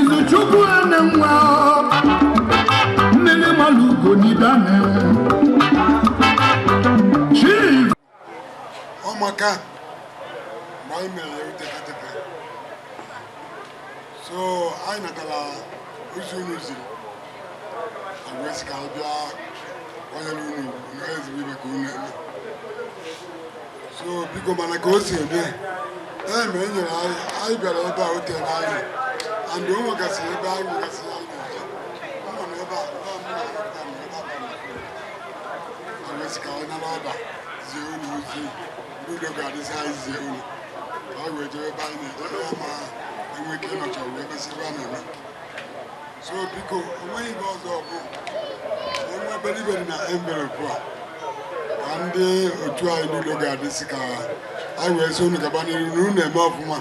izuchukwu Enenwa Nnenemalugo n'Idane chief ọmaka mgbe anyị mere ya utekateka so anyị natara ozi unu ziri anyị wee sị ka anyị bịa nọnyere unu na ezigbo ife ka unu eme so biko mana ka o si eme ya e mere nyere anyị anyị bịara ebe a ote na anyị and o nwegasị ebe anyị nwegasị ya ka ọ nara ọba zie unu ozi ndị udo ga-adị zi anyị zie unu ka anyị wee jebe ebe anyị na-eje anyị ama enwe ike ịnọcha wee mesịrị a na-eme so biko onweghị ihe ọzọ bụ enwe obele ife dị na envelopu a ka ndị otu anyị ndị udo ga-adị sị ka anyị wee sị unu gaba n'iru na unu na-eme ọfụma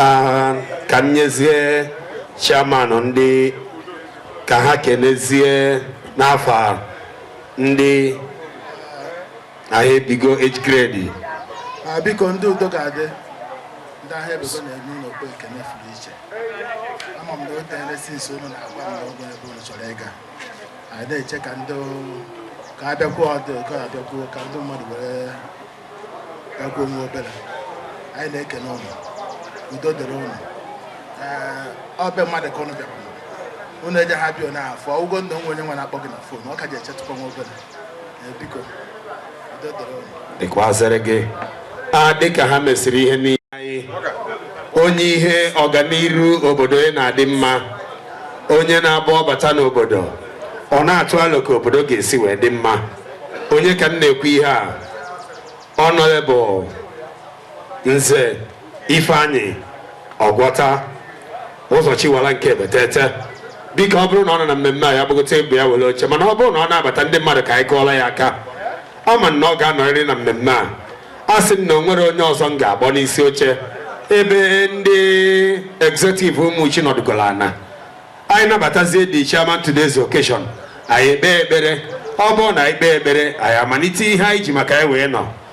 Ah, ka m nyezie chairman ndị ka ha kenezie n'afọ a, ndị Aghaebigo age grade. Ah, biko ndị udo ga-adị ndị Aghaebigo na-enye unu okpu ekene fụrụ iche ama m na o teele since unu na-agwa m na o nwere ebe unu chọrọ ịga anyị na-eche ka ndị ka abịakwuo ọdụ ka abịakwuo ka ndị mmadụ were bịakwuo nwa obere anyị na-ekene unu udo dịrị unu ọ bụ mmadụ ka unu bịakwuru unu eje ha bịa na afọ ụgwọ ndụ nwa onye nwe na-akpọ gị na fon ọ ka ji echetụkwa nwa obere dịkwazịrị gị a dịka ha mesịrị ihe niile anyị onye ihe ọganiru obodo ya na-adị mma onye na-abụ ọ bata n'obodo ọ na-atụ alo ka obodo ga-esi wee dị mma onye ka m na-ekwu ihe a Honorable Nze Ifeanyi Ọgwọta Ụzọchiwala nke Ebetete biko ọ bụrụ na ọ nọ na mmemme a ya gbagote ebe a were oche mana ọ bụrụ na ọ na-abata ndị mmadụ ka anyị kụọla ya aka ama m na ọ ga-anọrịrị na mmemme a asị m na o nwere onye ọzọ m ga-akpọ n'isi oche ebe ndị executive Umuchi nọdụgoro ana anyị nabatazie the chairman today's occasion anyị ekpee ekpere ọ bụrụ na anyị kpee ekpere anyị amalite ihe anyị ji maka ya wee nọ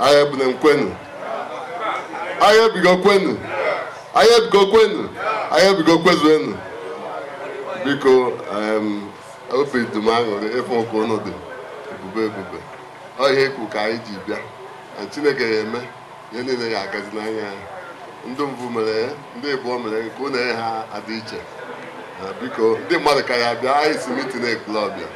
Aghaebigo kwenu Aghaebigo kwenu Aghaebigo kwenu Aghaebigo kwezuenu biko em, obi dị m aṅụrị ịfụ ka unu dị ebube ebube ọ ihe ekwu ka anyị ji bịa na chineke ya eme ihe niile ya agazi n'anya ndị mbụ mere ndị ịbụọ mere nke ụlọ ha adị iche biko ndị mmadụ ka ya-abịa anyị si mitin Ekwulobia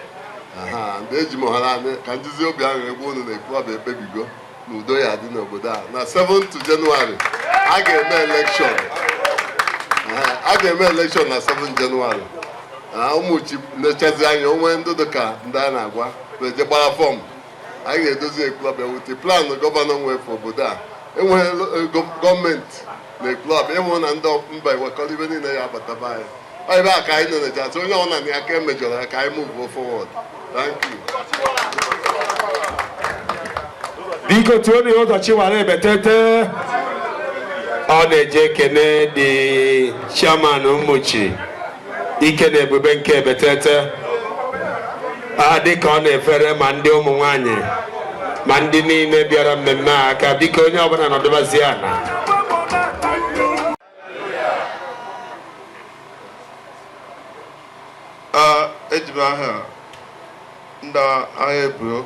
ndị eji m hara anyị ka njizi obi aṅụrị agwa unu na Ekwulobia ekpebigo na udo ya-adị n'obodo a na 7 Jenụwarị a ga-eme elekshọn a ga-eme elekshọn na 7 Jenụwarị na Umuchu na-echazi anya o nwee ndị dịka ndị a na-agwa na-eje gbara fọm anyị ga-edozi Ekwulobia ewute planụ gọvanọ nwefe obodo a enweghị gọọmenti na Ekwulobia ịhụ na ndị mba ewekọrọ ibe niile ya abataba anyị ebe a ka anyị na-eneje atụ onye ọbụla na ya ka emejọrọ ya ka anyị move forward biko tuo na ụzọ chiwara ebetete ọ na-eje ekene dị chairman Umuchu ike na ebube nke ebetete a dịka ọ na-efere ma ndị ụmụ nwanyị ma ndị niile bịara mmemme a aka biko onye ọbụla nọdụbazie ana eji m aha ndị Aghaebigo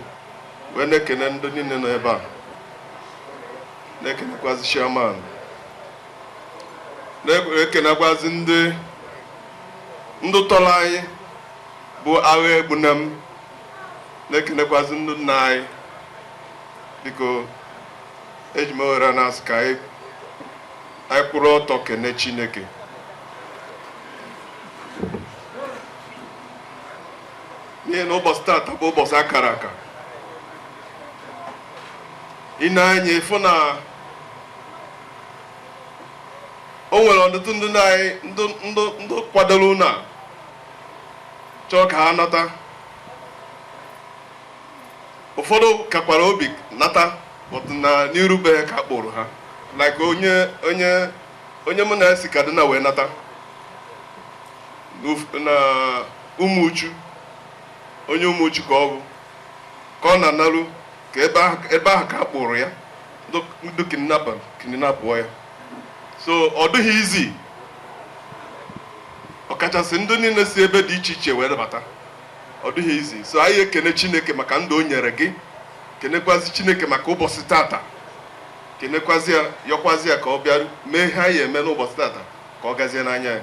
wee na-ekene ndị niile nọ ebe a na-ekenekwazi chairman na-ekenekwazi ndị ndị tọrọ anyị bụ Aghaegbuna m na-ekenekwazi ndị nna anyị biko eji m ohere a na-asị ka anyị anyị kwụrụ ọtọ kene Chineke n'ihi na ụbọchị taata bụ ụbọchị akara aka i nee anya ị fụ na o nwere ọtụtụ ndị na anyị ndị ndị ndị kwadoro ụna chọọ ka ha nata ụfọdụ kakwara obi nata but na n'iru be ha ka a kpụrụ ha like onye onye onye mụ na ya si Kaduna wee nata n'of- na Umuchu onye Umuchu ka ọ bụ ka ọ na-analụ ka ebe ahụ ebe ahụ ka a kpụrụ ya ndị ndị kidnapa kidnapụọ ya so ọ dịghị easy ọkachasị ndị niile si ebe dị iche iche wee nabata ọ dịghị easy so anyị ekene Chineke maka ndụ o nyere gị kenekwazi Chineke maka ụbọchị tata kenekwazi ya yọkwazi ya ka ọ bịa mee ihe a ya-eme n'ụbọchị tata ka ọ gazie n'anya ya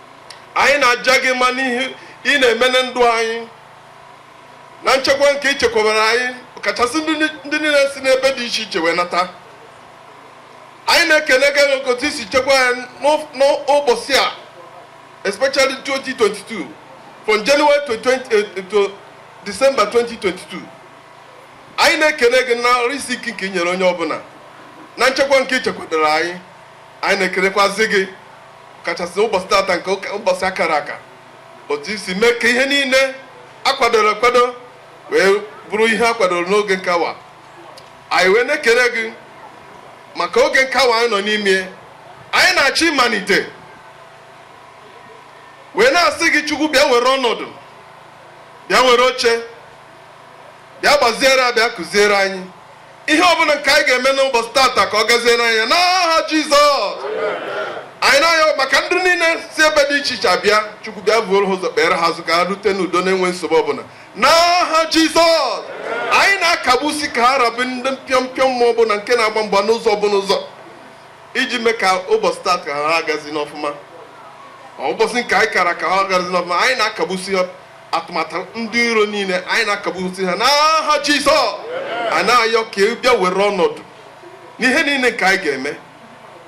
Anyị na-aja gị mma n'ihe ị na-eme na ndụ anyị na nchekwa nke i chekwabara anyị kachasị ndị niile si n'ebe dị iche iche wee nata anyị na-ekele gị otu i si chekwa ya n'ụbọchị a especially 2022 from January to, 20, eh, eh, to December 2022 anyị na-ekele gị na arụ isi ike nke i nyere onye ọbụla na nchekwa nke i chekwadoro anyị anyị na-ekelekwazi gị kachasị ụbọchị tata nke ụka- ụbọchị a kara aka otu i si mee ka ihe niile a kwadoro akwado wee bụrụ ihe a kwadoro n'oge nke awa anyị wee na-ekele gị maka oge nke awa anyị nọ n'ime anyị na-achọ ịmalite wee na-asị gị Chukwu bịa were ọnọdụ bịa were oche bịa gbaziere anyị bịa kụziere anyị Ihe ọbụla nke anyị ga-eme n'ụbọchị tata ka ọ gaziere anyị n'aha Jizọs. Anyị na-ayọ maka ndị niile si ebe dị iche iche abịa Chukwu bịa vuoro ha ụzọ kpere ha azụ ka ha rute n'udo na-enwe nsogbu ọbụla n'aha Jizọs. Anyị na-akagbusi ka ha ra bụ ndị mpịọmpịọ mmụọ ọbụla nke na-agba mgba n'ụzọ ọbụla ụzọ iji mee ka ụbọchị tata ghara agazi n'ọfụma. Ọ ụbọchị nke anyị kara aka ghara agazi n'ọfụma anyị na-akagbusi atụmatụ ndị iro niile anyị na-akagbusi ha n'aha Jizọs anyị na-ayọ ka ị bịa were ọnọdụ n'ihe niile nke anyị ga-eme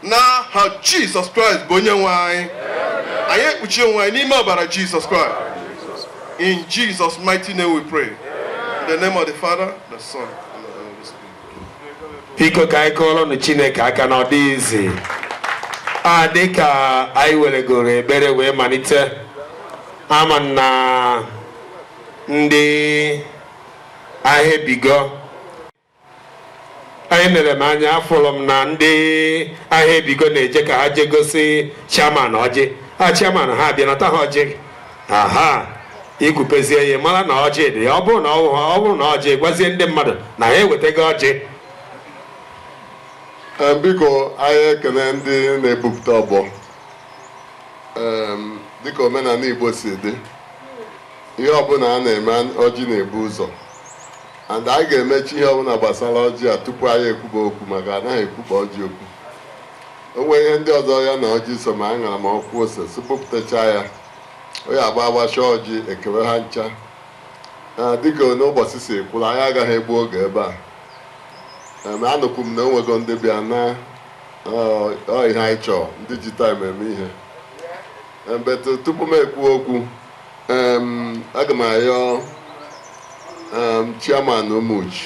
n'aha Jizọs Kraịst bụ onye nwe anyị anyị ekpuchi onwe anyị n'ime ọbara Jizọs Kraịst in Jesus mighty name we pray in the name of the Father the Son biko ka anyị kụọrọnụ Chineke aka na ọ dịghị easy a dịka anyị weregoro ekpere wee malite ama m na ndị Aghaebigo elere m anya afụrụ m na ndị Aghaebigo na-eje ka ha jee gosi chairman ọjị a chairman ha abịa nata ha ọjị aha i kupezie ya mara na ọjị dị ya ọ bụrụ na ọ wụ- ọ bụrụ na ọjị gwazie ndị mmadụ na ha ewetago ọjị Ee, biko anyị ekele ndị na-ebupụta ọgbọ Em, dịka omenala Igbo si dị ihe ọbụla a na-eme an- ọjị na-ebu ụzọ and anyị ga-emechi ihe ọbụla gbasara ọjị a tupu anyị ekwuba okwu maka a naghị ekwuba ọjị okwu o nwere ihe ndị ọzọ ya na ọjị so ma aṅara ma ọkwa ose sị bupụtacha ya onye agba agbacha ọjị e kewe ha ncha dịkanụ ụbọchị si kwụrụ anyị agaghị egbu oge ebe a anụkwu m na o nwego ndị bịa na ihe anyị chọọ ndị ji time eme ihe but tupu m ekwu okwu aga m ayọ chairman Umuchi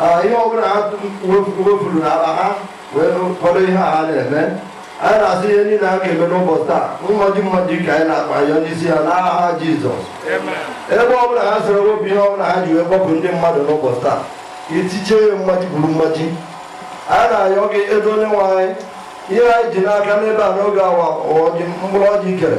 Ah, ihe ọbụla ha wefuru na akpa ha wee kpọrọ ihe a ha na-eme anyị na-asị ihe niile a ga-eme n'ụbọchị taa mmaji mmaji ka anyị na-akpa ya n'isi ya n'aha jizọs ebe ọbụla ha sịrị wepụ ihe ọbụla ha ji wee kpọpụ ndị mmadụ n'ụbọchị taa ka etichie ya mmaji buru mmaji anyị na-ayọ gị ebe onye nwe anyị ihe anyị ji n'aka n'ebe a n'oge awa mkpụrụ ọjị kere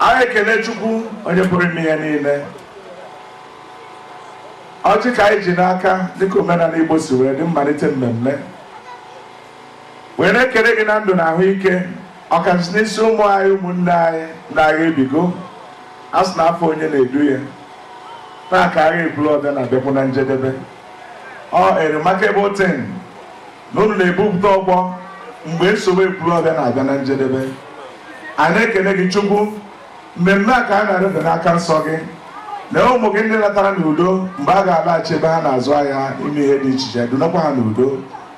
Anyị ekele Chukwu onye pụrụ ime ihe niile. Ọjị ka anyị ji n'aka dịka omenala Igbo si wee dị mmalite mmemme. Wee na-ekele gị na ndụ na ahụike ọkachasị n'isi ụmụ anyị ụmụnne anyị ndị agha ebigo a sị na afọ onye na-edu ya taa ka agha Ekwulobia na-abịakwu na njedebe ọ a remarkable thing na unu na-ebupụta ọgbọ mgbe nsogbu Ekwulobia na-abịa na njedebe anyị na-ekene gị chukwu mmemme a ka anyị na-arịọbe n'aka nsọ gị na ụmụ gị ndị natara n'udo mgbe ha ga-alaghachi ebe ha na-azụ ahịa ime ihe dị iche iche dunakwa ha n'udo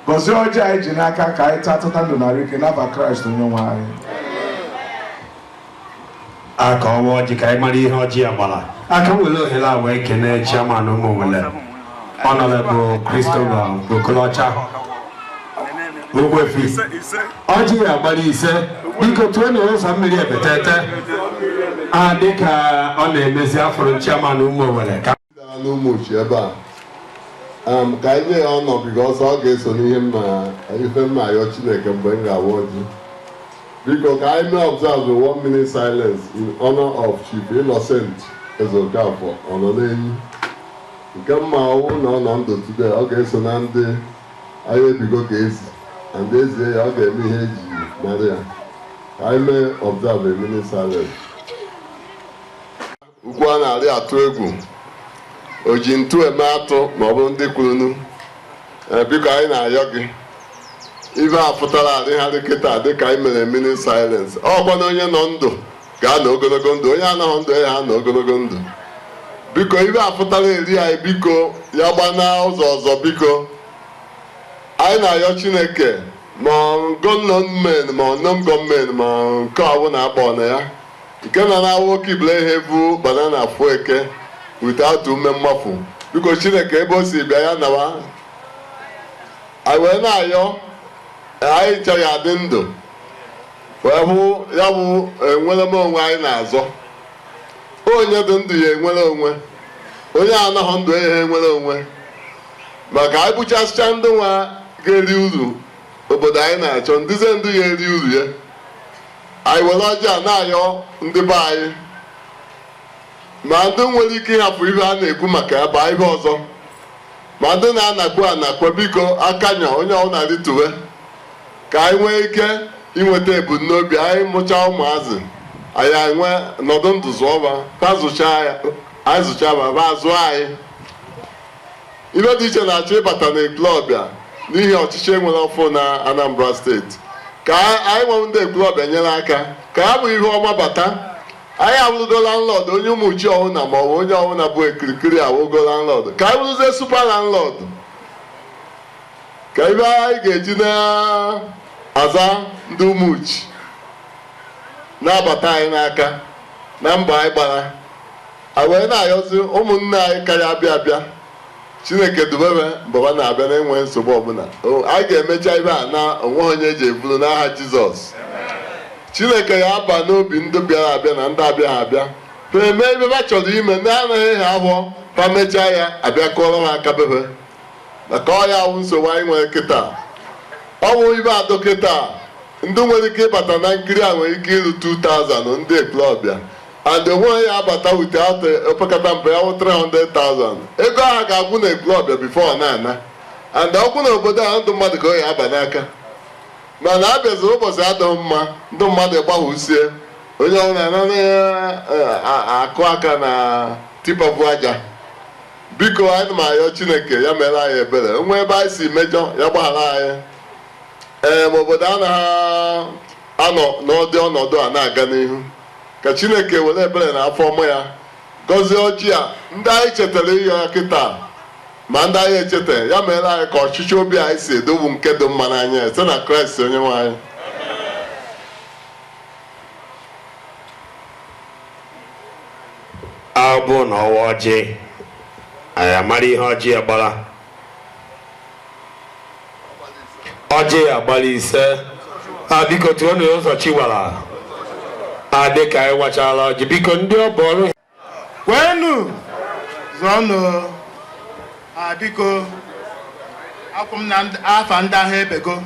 gọzie ọjị anyị ji n'aka ka anyị taa tata ndụ na arụ ike n'afa Kraịst onye nwe anyị a ka ọ waa ọjị ka anyị mara ihe ọjị ya gbara a ka m were ohere a wee kene chairman ụmụnwele Honorable Christopher Okolocha Ogbuefi ọjị ya gbara ise biko tụọ na ụzọ mmiri ebetete a dịka ọ na-emezi afọrọ chairman ụmụnwele ka Daa n'Ụmụchi ebe a um, ka anyị nye ya honor because ọ ga-eso n'ihe m na ife m na-ayọ Chineke mgbe m ga-awa ọjị biko ka anyị mee observe one minute silence in honor of Chief Innocent Ezeokafor ọ nọ n'enyi nke mma ọwụ na ọ nọ ndụ today ọ ga-eso na ndị agha ebigo ka ezi and ezie ya ọ ga-eme ihe eji mara ya ka anyị mee observe a minute silence Ugwu a na-arị atụ egwu o ji ntu eme atụ ma ọ bụ ndị kwurunu ee biko anyị na-ayọ gị ife a pụtara erigharị kịta dịka anyị mere minute silence ọkwa na onye nọ ndụ ga-anọ ogologo ndụ onye anọghị ndụ ya anọ ogologo ndụ biko ife a pụtara eri anyị biko ya gbana ụzọ ọzọ biko anyị na-ayọ chineke ma government ma non government ma nke ọbụla akpọ na ya nke na na-awụ oke ibule ihe bụ banana afụ eke without ume mmafu biko chineke ebe o si bịa ya nawa anyị wee na-ayọ anyị ncha ya adị ndụ wee hụ ya bụ enwere m onwe anyị na-azọ onye dị ndụ ya enwere onwe onye anọghị ndụ ya enwere onwe maka anyị gbuchasịcha ndị nwa ga-eri uru obodo anyị na-achọ ndịze ndụ ga-eri uru ya Anyị were ọjị a na-ayọ ndị be anyị ma ndị nwere ike ịhapụ ihe a na-ekwu maka ya baa ihe ọzọ ma ndị na-anakwu anakwa biko akanya onye ọbụla rituwe ka anyị nwee ike inweta ebumnobi anyị mụchaa ụmụazị anyị enwe nọdụ ndụ zụọ ba anyị zụchaa ba ba azụọ anyị Ihe dị iche na-achọ ịbata n'Ekwulọbịa n'ihi ọchịchị e nwere ọfụ na Anambra steeti. Ka anyị nwa wụ ndị Ekwulọbịa nyere aka ka ya bụ ihe ọma bata. Anyị awụrụgo landlord onye Ụmụchi ọwụna ma ọ bụ onye ọwụna bụ ekirikiri awụgo landlord. Ka anyị wụrụzie super landlord. Ka ihe anyị ga-eji na-aza ndị Ụmụchi na-abata anyị n'aka na mbọ anyị gbara. A wee na-ayọzi ụmụnne anyị ka ya-abịa abịa Chineke dube be ma ba na-abịa na-enwe nsogbu ọbụla a ga-emecha ibe a na onweghị onye e ji ebulu n'aha Jizọs Chineke ya aba n'obi ndị bịara abịa na ndị abịa ha abịa ha eme ibe ha chọrọ ime ndị anaghị ha ahụọ ha mechaa ya abịa kụọrọ ha aka bebe maka ọ ya wụ nsogbu anyị nwere kịta ọ bụ ibe atọ kịta ndị nwere ike ịbata na nkiri a nwere ike iru 2000 ndị Ekwulọbịa and onweghị ya abata without opekata mpe ya wụ 300,000 ego ahụ ga-agwụ na ekwulọbịa before ọ na-ana and ọkwụ na obodo ahụ ndị mmadụ ka ọ ya aba n'aka mana a bịaziri ụbọchị adịghị mma ndị mmadụ gbahụsie onye ọbụla anana ya akụ aka na tipa bu aja biko anyị na-ayọ chineke ya meere anyị ebere o nwee ebe anyị si mejọ ya gbaghara anyị ee ma obodo anaghị anọ n'ụdị ọnọdụ a na-aga n'ihu Ka Chineke were ebere na afọ ọma ya gọzie ọjị a ndị anyị chetara ịyọ ya kịta ma ndị anyị echeta ya meere anyị ka ọchịchọ obi anyị si edobu nke dị mma n'anya ya site na Kraịst onye nwe anyị abụ na ọwa ọjị anyị amara ihe ọjị a gbara ọjị a gbara ise a biko tụọ na ụzọ chiwara adị ka anyị wachala ọjị biko ndị ọ bụ ọrụ kwenu zọnụ a biko akwụ m na ndị- afa ndị ahụ ebego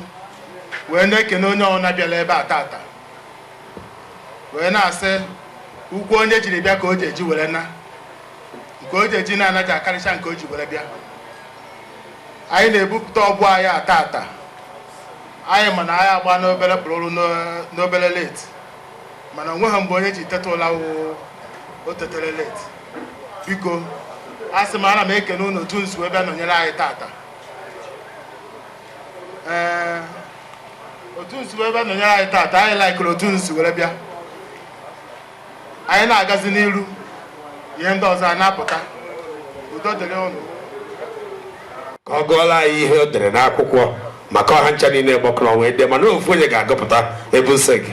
wee na-ekene onye ọbụla bịara ebe a tata wee na-asị ụkwụ onye jiri bịa ka o ji eji were na nke o ji eji na-ana ja-akarịcha nke o ji were bịa anyị na-ebupụta ọgbọ anyị tata anyị ma na anyị agba n'obere pụrụrụ n'obere late mana o nweghị mgbe onye ji teta ụla o tetere late biko asị m ana m ekene unu otu unu si wee nọnyere anyị tata ee otu unu si wee nọnyere anyị tata anyị laikere otu unu si were bịa anyị na-agazi n'iru ihe ndị ọzọ a na-apụta udo dịrị unu ka ọ gụọla anyị ihe o dere n'akwụkwọ maka ọ ha ncha niile gbakọrọ ọnụ wee dee mana ofu onye ga-agụpụta ebu nsị gị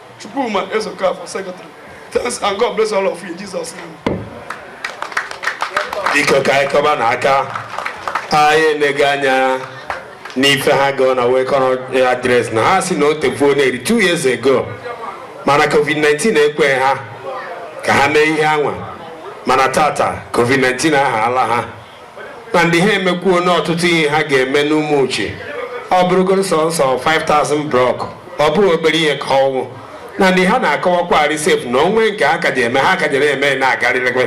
Chukwuma Ezokafor, Secretary. Thanks and God bless all of you in Jesus' name. Biko ka anyị kụba nụ aka anyị enego anya n'ife ha gụọ na welcome address na ha sị na o tekwuo n'eri two years ago mana covid-19 ekweghị ha ka ha mee ihe anwa mana tata covid-19 ahaala ha na ndị ha emekwuo n'ọtụtụ ihe ha ga-eme n'Umuchi ọ bụrụgo sọnsọ 5000 block ọ bụghị obere ihe ka ọ wụ na ndị ha na-akọwakwarị sef na o nwe nke ha ka ja-eme ha ka ja na-eme na-agarịrịkwe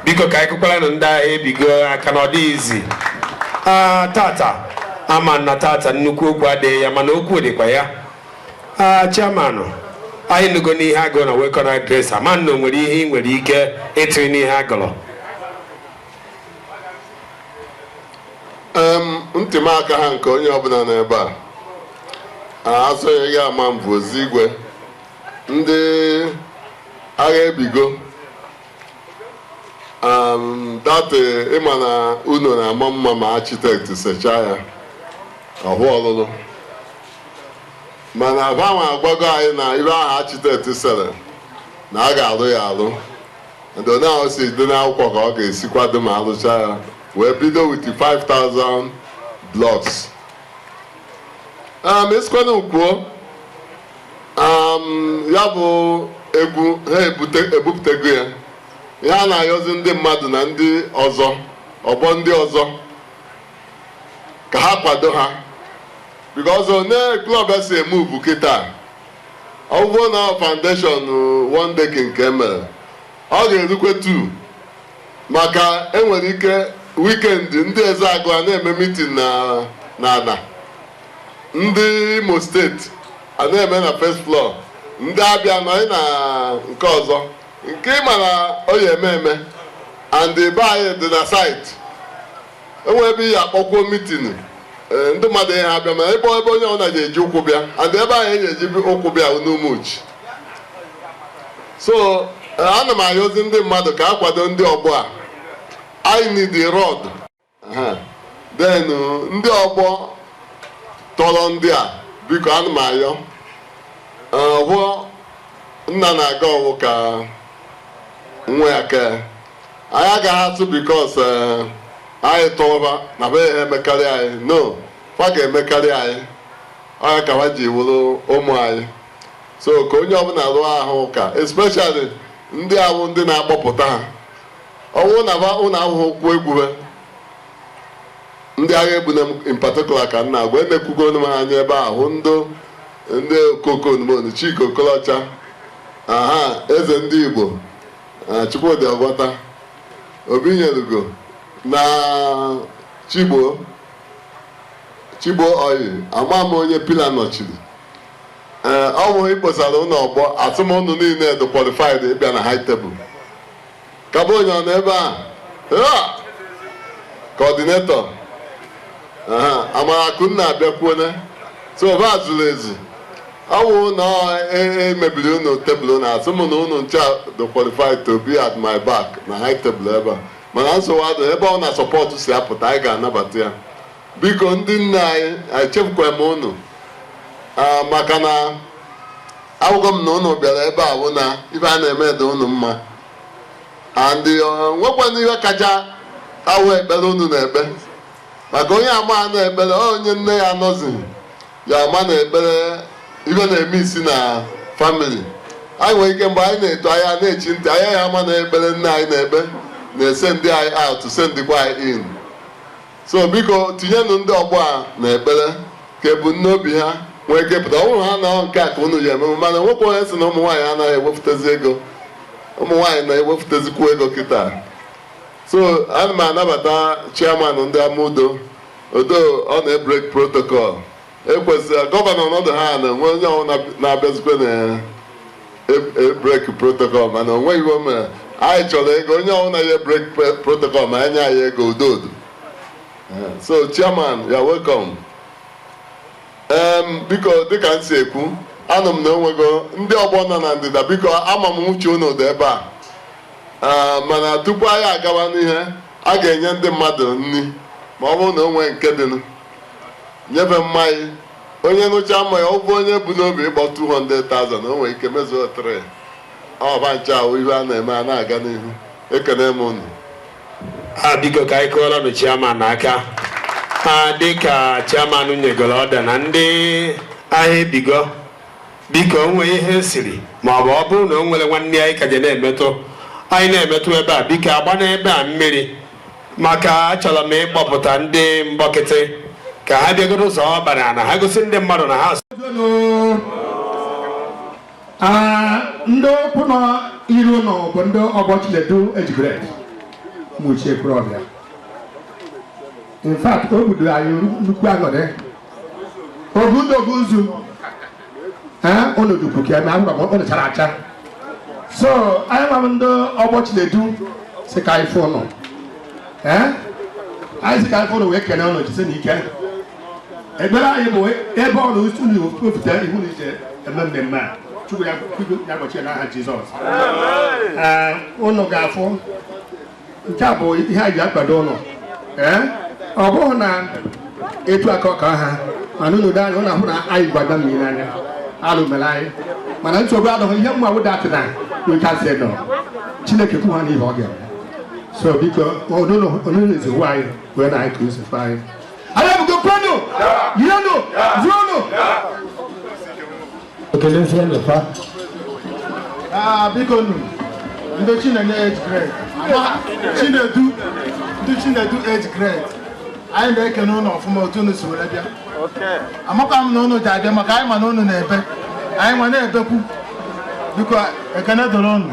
biko ka anyị kụkwara nụ ndị Aghaebigo aka na ọ dịghị easy aa tata a ma na tata nnukwu okwu adịghị ya mana okwu dịkwa ya aa chairman anyị nụgo n'ihe a gụ na welcome address ama na o nwere ihe ị nwere ike ịtụrụ n'ihe a gụrụ Em, ntị m akaha nke onye ọbụla nọ ebe a a asọghị gị a ma m bụzi igwe ndị Aghaebigo um, that ịma na ụnọ na-ama mma ma architect sechaa ya ọ họ ọlụlụ mana ha nwa agwago anyị na ihe ahụ architect sere na a ga-alụ ya alụ Ndo na o si dị n'akwụkwọ ka ọ ga-esi kwado ma alụcha ya wee bido with 5000 blocks um, esikwana kwuo um, ya bụ egwu ha ebute- ebupụtago ya ihe a na-ayọzi ndị mmadụ na ndị ọzọ ọgbọ ndị ọzọ ka ha kwado ha because one club si eme move kịta ọ bụrụ na ọ foundation one decking ka e mere ọ ga-erukwe tu maka e nwere ike weekend ndị Ezeagụ a na-eme meeting n'ana ndị Imo State a na-eme na first floor ndị Abịa nọ anyị na nke ọzọ nke ị mara ọ ya-eme eme and be anyị dị na site enwe ebe ihe akpọkwuo meeting ee ndị mmadụ ihe abịa ma ebe ebe onye ọbụla ji eji ụkwụ bịa and ebe ahụ e na-eji ụkwụ bịa bụ n'Umuchu so ee, ana m ayọzi ndị mmadụ ka a kwado ndị ọgbọ a anyị need the road Aha. then uh, ndị ọgbọ tọrọ ndị a biko ana m ayọ Ee, ihe nna na-aga ọwụ ka nwa ya kee anyị agaghị atụ because eh, anyị tụọba na be ha emekarị anyị no fa ga-emekarị anyị ọ ya ka fa ji wụrụ ụmụ anyị so ka onye ọbụla rụọ ahụ ụka especially ndị ahụ ndị na-akpọpụta aha ọwụ na fa ụlọ ahụhụ kwuo egwube ndị agha egbuna m in particular ka m na-agwa emekwugo m ha anya ebe ahụ ndị ndị okokonmon Chike Okolocha aha eze ndị Igbo eh, Chukwudi Ogwata, Obinyelugo na Chigbo Chigbo Oyi ama m onye pillar nọchiri ee ọ bụ ikposara ụlọ ọgbọ asị m unu niile dị qualified ịbịa na high table kaba onye ọ nọ ebe a coordinator Amarakunna abịakwuona so ọba zuru ezu ọ wụ na emebiri unu table na asị m na unu ncha dị qualified to be at my back na high table ebe a mana nsogbu adụ ebe ọwụna support si apụta anyị ga-anabata ya biko ndị nne anyị echefukwa m unu ah, maka na ahụgwo m na ụnụ bịara ebe a bụ na ife a na-eme dị ụnụ mma and uh, nwekwana ihe kacha awụ ekpere ụnụ na-ekpe maka onye amaha na ekpere onye nne ya anọzighị ya ama na ekpere ife na-eme isi na family anyị nwere ike mgbe anyị na-eto anyị na-echi ntị anyị ya ama na ekpere nne anyị na-ekpe na-esendị anyị out sendịkwa anyị in so biko tinyenụ ndị ọgbọ a na ekpere ka ebumnobi ha nwee ike pụta ọ bụrụ ha na nke a ka unu ji eme mana nwekwa onye sị na ụmụ nwaanyị anaghị ewepụtazi ego ụmụ nwaanyị na-ewepụtazikwu ego kịta So ana m anabata chairman ndị Amaudo although ọ na-ebreak protocol ekwesịrị governor nọdụ ha na enwe onye ọwụna abịazikwe na-ebreak protocol mana o nweghị ihe o mere anyị chọrọ ego onye ọwụna ya ebreak protocol ma enye anyị ego udo odo so chairman you are welcome em biko dịka m si ekwu anụ m na onwego ndị ọgbọ nọ na ndịda biko ama m uche unu dị ebe a Ee, mana tupu anyị agawa n'ihu a ga-enye ndị mmadụ nri ma ọ bụrụ na o nwee nke dịnụ nyebe mmanya onye ṅụcha mmanya ọ bụ onye bu n'obi ịkpọ 200,000 o nwere ike mezuo 3 ọba nche ahụ ihe a na-eme a na-aga n'ihu ekene m unu a biko ka anyị kụọrọ nụ chairman aka ha dịka chairman nyegoro ọda na ndị Aghaebigo Biko, o nwee ihe e siri, ma ọ bụ ọ bụrụ na o nwere nwanne anyị ka je na-emetụ, anyị na-emetụ ebe a, biko agbana ebe a mmiri, maka achọrọ m ịkpọpụta ndị Mkpọkịtị ka ha bịagodo zọọ ọkpa n'ala, ha gosi ndị mmadụ na ha Ah, ndị a kwụ n'iru ụnụ bụ ndị ọgbọ Chinedu Age grade Umuchi Ekwulobia. In fact, ọ bụdụ anyị nnukwu aṅụrị ogundogu nzu olodukwu ka eme agwa ọ nụchara acha so anyịnwa ndị ọgbọ Chinedu sị ka anyị fụ ụnụ anyị sị ka anyị fụ ụnụ wee kene ụnụ jisi na ike ekpere anyị bụ ebe ọ na unu wepụta ihu na ije eme mmemme a chukwu ya gbochie n'aha jizọs ụnụ ga-afụ nke a bụ ihe anyị ji akwado ụnụ ee ọ bụghị na etu aka ọka ha mana unu ji anya ụnụ ahụ na anyị gbada mmiri n'anya alụ mere anyị mana nsogbu adọghị ihe mma wụda atị na wekasị nọ chineke kwụ ha n'ihe ọ ga-eme so biko onunu eziwo anyị iwe na anyị ka usefe anyị Aghaebigo kwenu yienu zuonu Ah, biko nu ndị Chinenye age grade Chinedu ndị Chinedu age grade anyị na-ekene unu ọfụma otu unu si were bịa amakwa m na unu ja-abịa maka anyịnwa na unu na-ebe anyịnwa na-ebekwu biko ekene dọrọ unu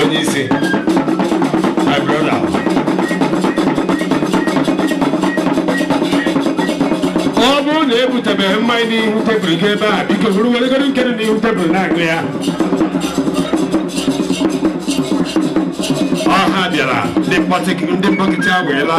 onye isi my brother ọ bụrụ na ebutebeghị mmanya n'ihu tebụl gị ebe a biko buru weregodi nke dị n'ihu tebụl na-aṅụ ya ọha bịara ndị mkpọtị- ndị mkpọkịtị agweela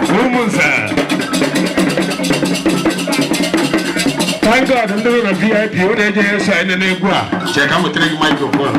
Umunze thank god ndị nọ na vip unu enyeghị eso anyị nene egwu a chee ka m wetara gị microphone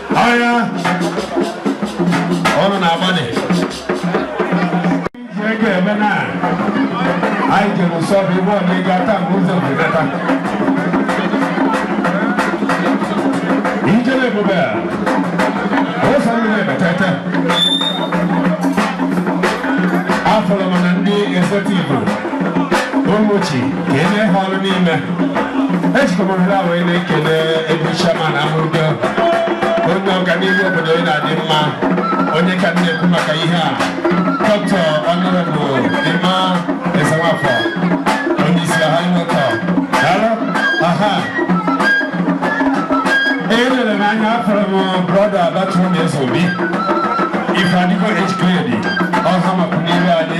Agha ọrụ na-agbanị. Iji ego eme na anyị jere ụsọ bụ ibe ọdị ịga taa mgbe ụzọ bụdata. Ijele ebube a, ụzọ ndị na-ebetete. Afụrụ m na ndị executive Umuchi kenee ha ọrụ niile ejikọbara wee na-ekele able chairman amụrụgo onye ọganihu obodo ya na-adị mma onye ka m na-ekwu maka ya dọkịta Honourable Emma Ezenwafọ onye isi ọha nwekọ daalụ aha elere m anya afụrụ m brother abatụrụ na Ezeobi Ifeadigo age grade ọha maka n'iru anyị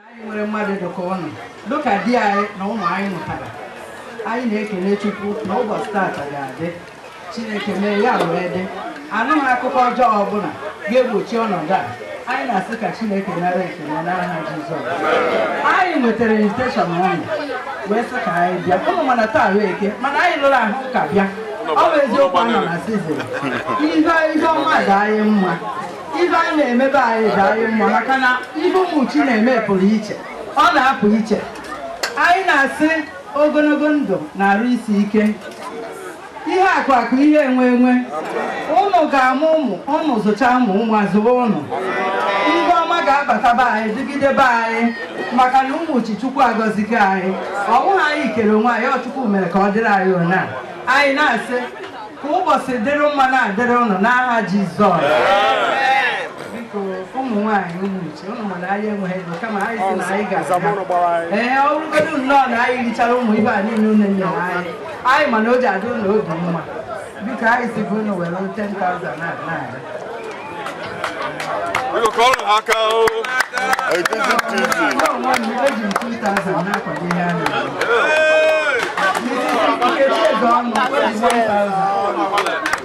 anyị nwere mmadụ dịka ụnụ dịka di anyị na ụmụ anyị mụtara anyị na-ekele Chukwu na ụbọchị taata ga-adị Chineke mee ya wee dị anụghị akụkọ ọjọọ ọbụla ga-egbochi ọnọdụ a anyị na-asị ka Chineke nara ekele n'aha Jizọs anyị nwetara invitation ụnụ wee sị ka anyị bịa ụnụ ma na taa wụ Eke mana anyị lụrụ ahụ ka bịa ọ bụ eziokwu a nọ na season ihe ihe ọma dị anyị mma ibe a na-eme be anyị dị anyị mma maka na ibe Umuchi na-eme pụrụ iche ọ na-apụ iche anyị na-asị ogologo ndụ na arụ isi ike ihe akụ akụ ihe enwe enwe ụnụ ga-amụ ụmụ ụnụ zụcha ụmụ ụmụ azụwa ụnụ ibe ọma ga-abata be anyị dịgide be anyị maka na Umuchi Chukwu agọzigo anyị ọ bụghị anyị kere onwe anyị ọ Chukwu mere ka ọ dịrị anyị ụna anyị na-asị ka ụbọchị dịrị mma na-adịrị ụnụ n'aha Jizọs biko ụmụ nwaanyị Umuchi ụnụ ma na anyị enweghị ego kama anyị sị na anyị ga-aga ee ọ bụrụgodo nnọọ na anyị richara ụmụ ibe a niile ụnụ nyere anyị anyị ma na o ji adị ụnụ obi mma biko anyị si bụ ụnụ were 10,000 naira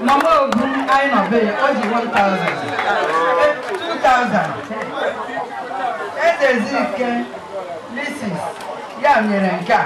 Mama Ogu, nọ ebe a, o ji 1,000. 2,000. Ezezike, Mrs. ya nyere nke a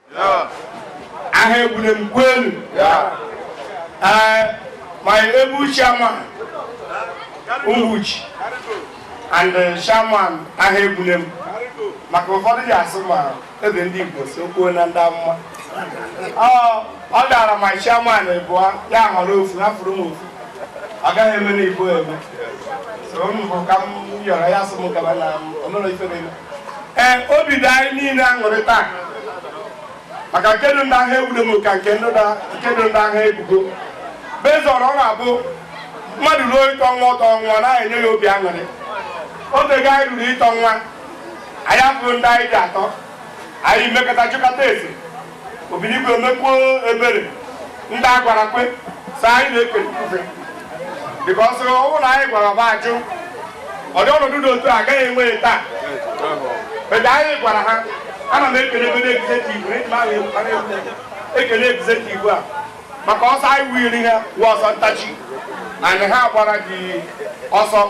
aha egbule m kwenu eh, my able chairman Umuchi and eh, chairman aha egbule m maka ụfọdụ ji asị ma ebe ndị Igbo si ekwu na ndị amụma ọ dara ma chairman abụọ ya họrọ ofu afụrụ m ofu ọ gaghị eme na Igbo eme so m bụ ka m yọrọ ya asị m gaba na ọnụrụ ife na-eme ee obi dị anyị niile aṅụrị taa maka nke dị ndị ahụ egbudo m ka nke dị ndị agha ebugo bezọrọ ọ na-abụ mmadụ ruo ịtọ nwa ụtọ nwa na-enye ya obi aṅụrị oge ga anyị ruru ịtọ nwa anyị abụrụ ndị anyị dị atọ anyị mekọta chịkọta esi Obinigwe emekwuo ebere ndị a gwara kwe so anyị na-ekele ifufe because ọ bụ na anyị gwara ba ajụ ọdị ọnọdụ dị otu a agaghị enwe taa but anyị gwara ha ana m ekele ebe executive ekele executive a maka ọsọ anyị wiri ha wụ ọsọ ntachi and ha gbara gị ọsọ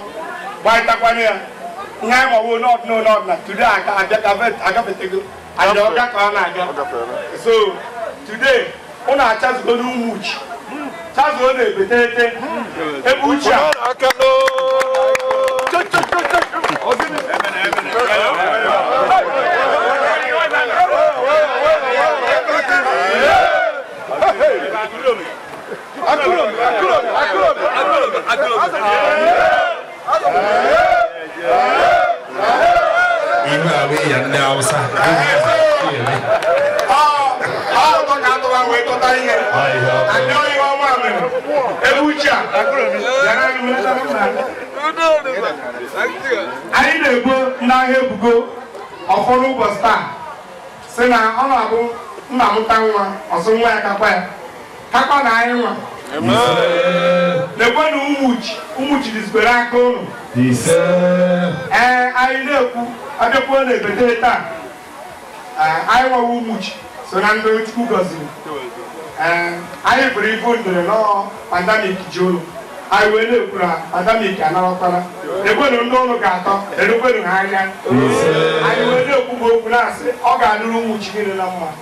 gbarịtakwanye ya ihe anyị ma wụ n'ọdịnala today agafetego and ọga ka ọ na-aga so today ụnụ achazugo n'ụmụchi chazuo na ebetete ebe uchi a akụrụ m ihe ọma e mere ebe uchi a anyị na-ebo n'agha ebugo ọfọdụ ụbọchị taa sị na ọ na-abụ nna mụta nwa ọ sị nwa ya kakwa ya kakwa na anyị nwa na-ekwu na ụmụchi ụmụchi dịzibere aka ụnụ ee anyị na-ekwu abịakwuo na ebete taa anyị nwa wụ ụmụchi so na ndị chukwu gọziri anyị bụrụ ibu ndịrị n'ọọ pandemic ji ụlọ anyị wee na-ekwu na pandemic anarakwana ekwenu ndị ụlọ ga-atọ erukwenu ha anya anyị wee na-ekwu okwu na-asị ọ ga-adịrị ụmụchi niile na mma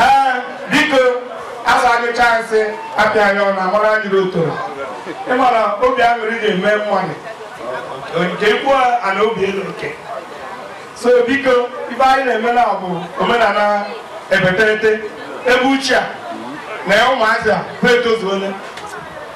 ee biko asa anyị chansị apịa ya ọ na-amara anyị n'otoro ịmara obi aṅụrị na-eme mmadụ nke kwuo ana obi elu nke so biko ife anyị na-eme na bụ omenala ebeterete ebe uchi a na ụmụazị a bụ etozuole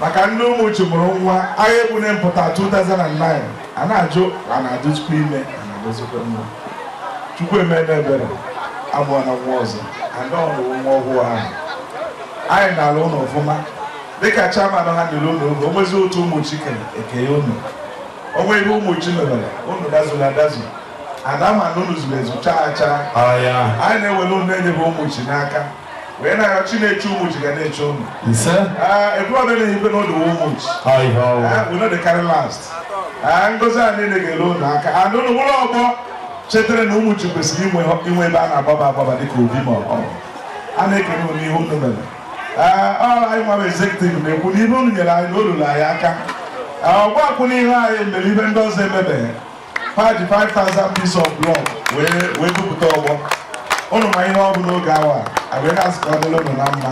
maka ndị ụmụchi mụrụ nwa agha ebugo na mpụta 2009 a na-ajụ a na-adịzikwa ime a na-adịzikwa mma chukwu emela ebere amụọna nwa ọzọ ada ọnụwụ nwa ọhụụ ahụ anyị na-ele ụnụ ọfụma dịka chairman ha nyere ụlọ oge o nwezi otu ụmụchi kere eke ya ụnụ o nwe ihe ụmụchi mebere ụnụ dazuru adazu a da ama na ụnụ zuru ezu chaa chaa anyị na-ewere ụnụ enyebe ụmụchi n'aka wee na-arịọ Chineke Umuchi ga na-eche unu ebuọbịa na-ehibe n'ụlọ Umuchi no dey carry last ngozi a niile ga-eru unu aka and unu unu ọgbọ chetara na Umuchi kwesịrị inwe ebe a na-agbaba agbaba dịka obi ma ọ a na-ekele unu ihe unu mere ọ bụ anyị nwa executive na-ekwu na ihe unu nyere anyị na o lulu anyị aka ọgbọ akwụ n'ihe anyị mere ibe ndị ọzọ emebeghị ha ji 5000 piece of block wee wee bupụta ọgbọ ụnụ ma ihe ọ bụ n'oge awa a wee na-asị ka ọ dịrị ụnụ na mma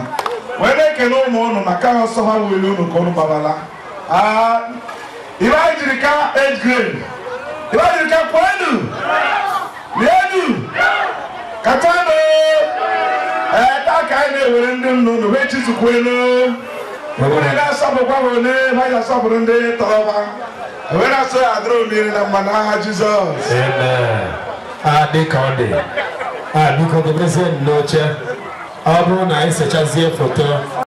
wee na-ekele ụmụ ụnụ maka ọsọ ha weli ụnụ ka ụnụ gbabala Ah, ibe anyị jiri ka age grade ibe anyị jiri ka kwenu Lienu! Katanụ! Ee, taa ka anyị na-ewere ndị nna unu wee chizukwu elu. Obodo na-asọpụkwa ha ole ha ji asọpụrụ ndị tọrọ ha. Wee na-asị ya dịrị unu na mma n'aha Jizọs. Amen. a dị ka ọ dị a biko dobezienụ oche ọ bụrụ na anyị sechazie foto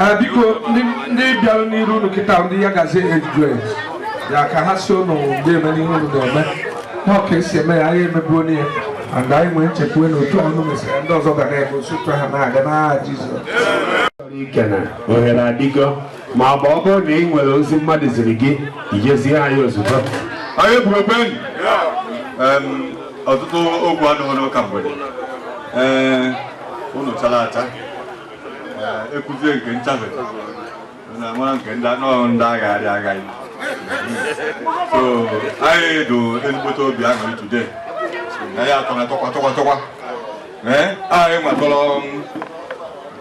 Eh, biko ndị bịara n'iru unu kịta ndị Yagazie age grade ya ka ha sị ụnụ ndeeme n'ihe unu na-eme na ọ ka e si eme ya anyị emebuo ya and anyị nwee nchekwa na otu unu mesịrị ndị ọzọ ga na-eme osụtụ ha na-aga n'aha Jizọs ike na ohere adịgo ma ọ bụ ọ bụrụ na ị nwere ozi mmadụ ziri gị i je zie anyị ozugbo anyị eburobenyi ọtụtụ okwu adịghị n'ụka mgbede ee eh, unu chara acha ekuzie nke nchafe na nwa nke ndị anọghị ndị agha adị agaghị so anyị do ezigbote obi aṅụrị today na ya atọ na tọkwa tọkwa tọkwa ee anyị nwa tọrọ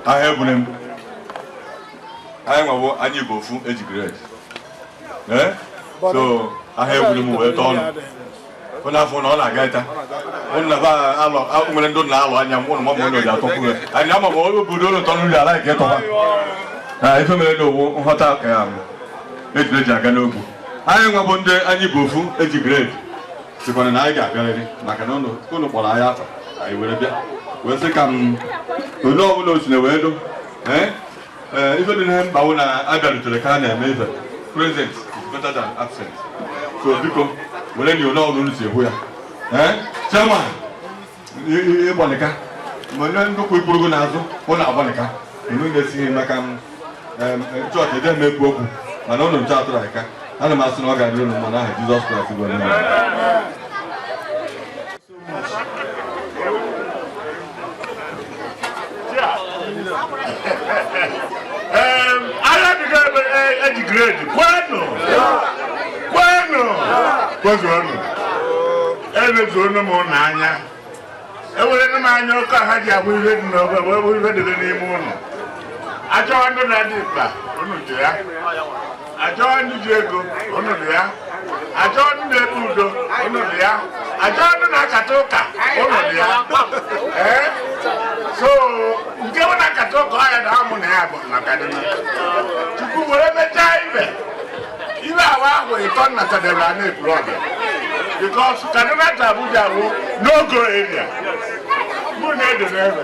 ahịa ebule m anyị nwa wo anyị bụ ofu age grade ee so ahịa ebule m wee tọọ ụnụ ụnụ afọ na ọ na-aga ịta ụnụ na ba alọ a- nwere ndị ụnụ na-ele anya mgbe ụnụ mama ụnụ ji atọkwu ya anyị ama ma onye obodo ụnụ tọrọ uri ala nke tọwa na ife mere na owu nghọta ka ya bụ e jiri eji aga n'ogwu anyị nwa bụ ndị anyị bụ ofu age grade sikwana na anyị ga-abịarịrị maka na ụnụ ụnụ kpọrọ anyị afa anyị were bịa wee sị ka m onye ọbụla o sina wee dụ ee Eh, ife dị mkpa wụ na a bịarutere ka a na-eme ife present is better than absent so biko werenụ ole ọbụla e si ekwu ya ee eh, chairman ịgbalịka ma onye ndị kwụ ikpuru gị n'azụ unu agbalịka unu na-esighị maka eh, chọọchị ede m ekwu okwu mana ụnụ nche atụrụ aka ana m asị na ọ ga-adịrị ụnụ mma n'aha Jizọs Kraịst bụ onye Agha ebego age grade kwenụ kwenụ kwezuonụ emezuonụ m ụlọ anya ewerena m anya ụkọ ha ji abụ ihe dị n'obe wee bụ ihe dịrị n'ime ụlọ a chọwa ndị na-adị mkpa unu dị ya a chọọ ndị ji ego unu dị ya a chọọ ndị na-ekpe udo unu dị ya a chọọ ndị na-akata ụka unu dị ya ee so nke bụ na-akata ụka ọ ya na mụ na ya bụ na Kaduna Chukwu were mechaa ibe ibe awa ahụ ịtọ na Kaduna na Ekwulobia because Kaduna to Abuja bụ no-go area mụ na-edo n'ebe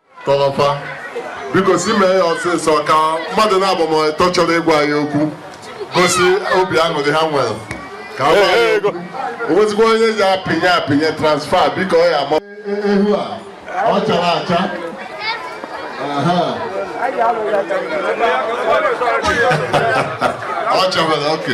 kọrọfa biko si mee ya ọsịsọ ka mmadụ naabọ ma ịtọ chọrọ ịgwa anyị okwu gosi obi aṅụrị ha nwere ka a gwa anyị okwu. o nwezikwa onye ji apịnye apịnye transfer biko ọ ya ama ehu a ọ chara acha Aha. ọ chabara oke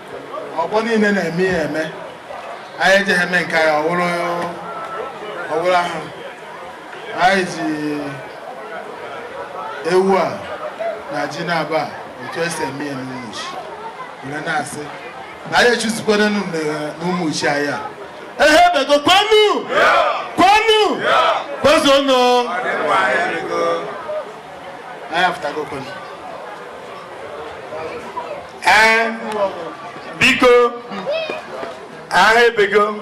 ọgbọ niile na-eme ya eme anyị ejeghị eme nke anyị ọwụrụ ọwụrụ ahụ anyị ji ewu a na ji na-aba a, otu esi eme ya n'Umuchi were na-asị na anyị echuzikwere n'Umuchi anyị Agha ebego kwenu kwenu kwezuonụ anyị apụtago kwenu ee biko Agha ebego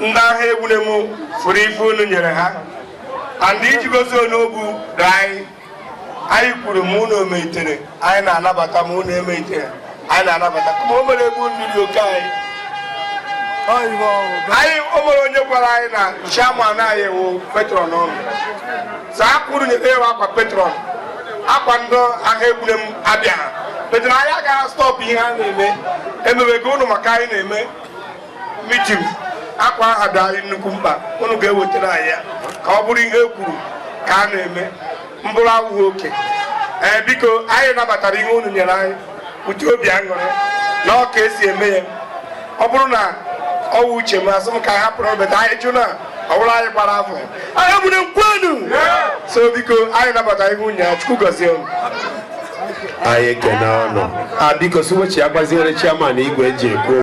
ndị agha egbune m fụrụ ife unu nyere ha and iji gosi na ọ bụ udo anyị anyị kwuru ma unu emeitere anyị na-anabata ma unu emeitere anyị na-anabata ma o mere egbu nri dị oke anyị anyị o nwere onye gwara anyị na chairman anyị wụ patron unu saa kwuru nyeta ewe akwa patron akwa ndị agha egbune m abịaha patron anyị agaghị stop ihe a na-eme emewego unu maka anyị na-eme meeting akwa aha dị anyị nnukwu mkpa unu ga-ewetara anyị ya ka ọ bụrụ ihe e kwuru ka a na-eme mbụrụ awụghị oke ee biko anyị nabatara ihe unu nyere anyị ụdị obi aṅụrị na ọ ka esi eme ya ọ bụrụ na ọ wụ uche m asị m ka hapụrụ obeta anyị jụ na ọ bụrụ anyị gbara afọ agha egbune m kwenu so biko anyị nabatara ihe unu nyere Chukwu gọzie unu anyị ekene unu biko si wechigaziere chairman igwe eji ekwu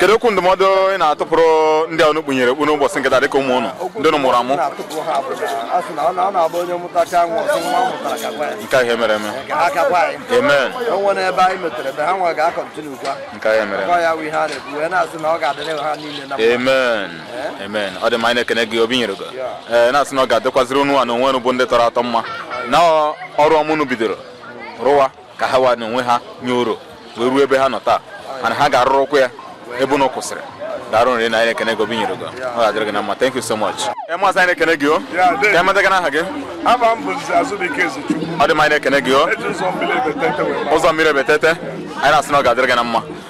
kedu okwu ndụmọdụ ị na-atụpụrụ ndị ụnụ kpunyere okpu n'ụbọchị nke taa dịka ụmụ ụnụ ndị ụnụ mụrụ amụ nke ihe mere eme amen o nwere ebe anyị metere ebe ha nwa ga-akọntinukwa nke ihe mere eme ya wụ ihe a na-ekwu wee na-asị na ọ ga-adịrị ha niile na mma amen eh? amen ọ dị mma anyị na-ekene gị obi nyere gị ee eh, na-asị na ọ ga-adịkwaziri unu wa na onwe unu bụ ndị tọrọ atọ mma na ọrụ ọma ụnụ bidoro rụwa ka ha wa n'onwe ha nye oro wee ruo ebe ha nọ taa mana ha ga-arụrụkwa ya ebe ụnụ kwụsịrị daalụ rinne anyị na-ekene gị obi nyere gị ọ ga-adịrị gị na mma thank you so much ee maazị anyị na-ekene gị o ka amata gị n'aha gị ọ dị mma anyị na-ekene gị o ụzọ mmiri ebetete anyị na-asị na ọ ga-adịrị gị na mma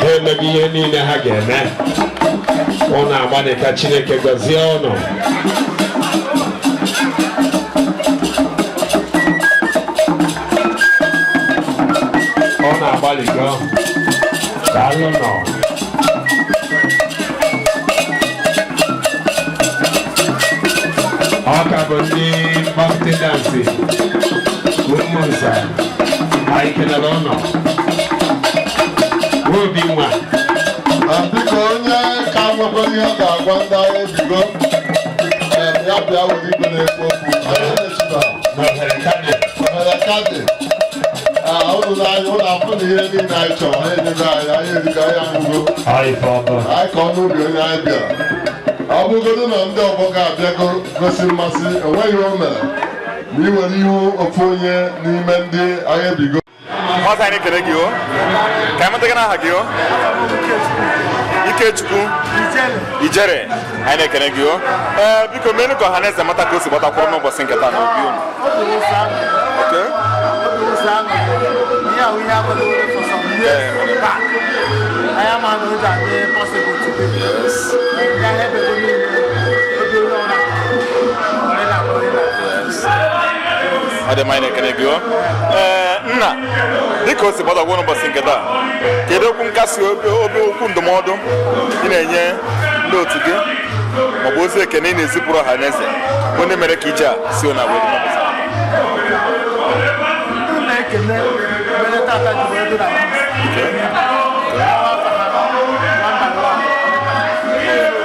ha emego ihe niile ha ga-eme ụnụ agbalịa ka Chineke gọzie ụnụ ụnụ agbalịgo daalụnụ ọ ka bụ ndị Mkpọkịtị dance Ụmụnze anyị ekene ụnụ o obi nwa biko onye ka nwekwa ihe ọ ga-agwa ndị agha ebigo ee, ya bịa were igwe na-ekwu okwu Onye na-echita? na ohere kadị Ohere ka dị. Ah, ụnụ na-anyị ụnụ afụ na ihe niile anyị chọrọ ha enyego anyị anyị erigo anyị aṅụgo anyị ka ọ bụ anyị ka nọ n'obi onye anyị bịara ọ bụgodu na ndị ọgbọ gị abịago gosi mmasị o nweghị ihe o mere ma ị were ihu ofu onye n'ime ndị agha ebigo Nwata anyị na-ekele gị o ka amata gị n'aha gị o Ikechukwu Ijere anyị na-ekele gị o ee biko meenụ ka ọha na eze mata ka o si gbatakwụrụ n'ụbọchị nke taa n'obi unu Okay. Yes. ọ dị mma anyị na-ekene gị o. Ee, nna dịka o si gbatakwụrụ n'ụbọchị nke taa kedu okwu nkasi obi okwu ndụmọdụ ị na-enye ndị otu gị maọbụ ozi ekene ị na-ezipụrụ ọha na eze bụ ndị mere ka ije a si na wee dị n'ụbọchị taa? na-ekene mere tata ji wee dị na Awa afa ha, number one.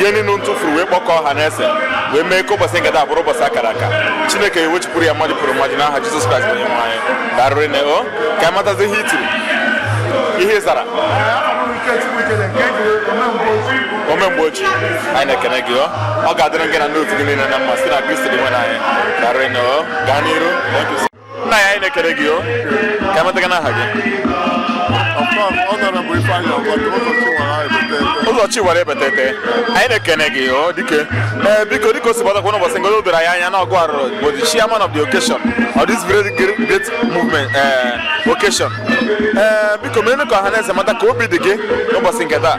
ihe niile m tufuru wee kpọkọọ ọha na eze wee mee ka ụbọchị nke taa bụrụ ụbọchị akara aka chineke ewechipụrụ ya mmaji kwuru mmaji n'aha jizọs kraịst onye nwe anyị daarụ rinne o ka amatazi ihe i chiri ihe ị zara omemgbeoji anyị na-ekene gị ọ ga-adịrị gị na ndị otu gị niile na mma site na kristi dinwenụ anyị daarụ rinne o gaa n'iru nna ya anyị na-ekele gị o ka emeta gị n'aha gị ụzọ chi wara ebetete anyị na-ekene gị o dike ee biko dịka o si gbatakwa n'ụbọchị nke taa o doro anyị anya na ọ gị arụ bụ the chairman of the occasion of this very great, great movement uh, occasion ee biko mere ka ọha na eze mata ka obi dị gị n'ụbọchị nke taa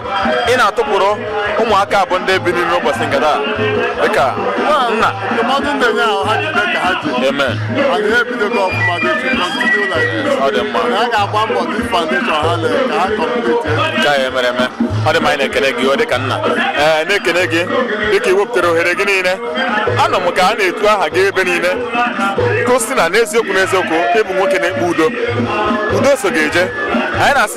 ị na-atụpụrụ ụmụaka a bụ ndị bi n'ime ụbọchị nke taa dịka nna amen ọ dị mma nke anyị emere eme ọ dị mma anyị na-ekele gị ọ dịka nna ee na-ekele gị dịka ị wepụtara ohere gị niile anụ m ka a na-etu aha gị ebe niile ka a sị na n'eziokwu n'eziokwu ị bụ nwoke na-ekpe udo udo so gị eje anyị na-asị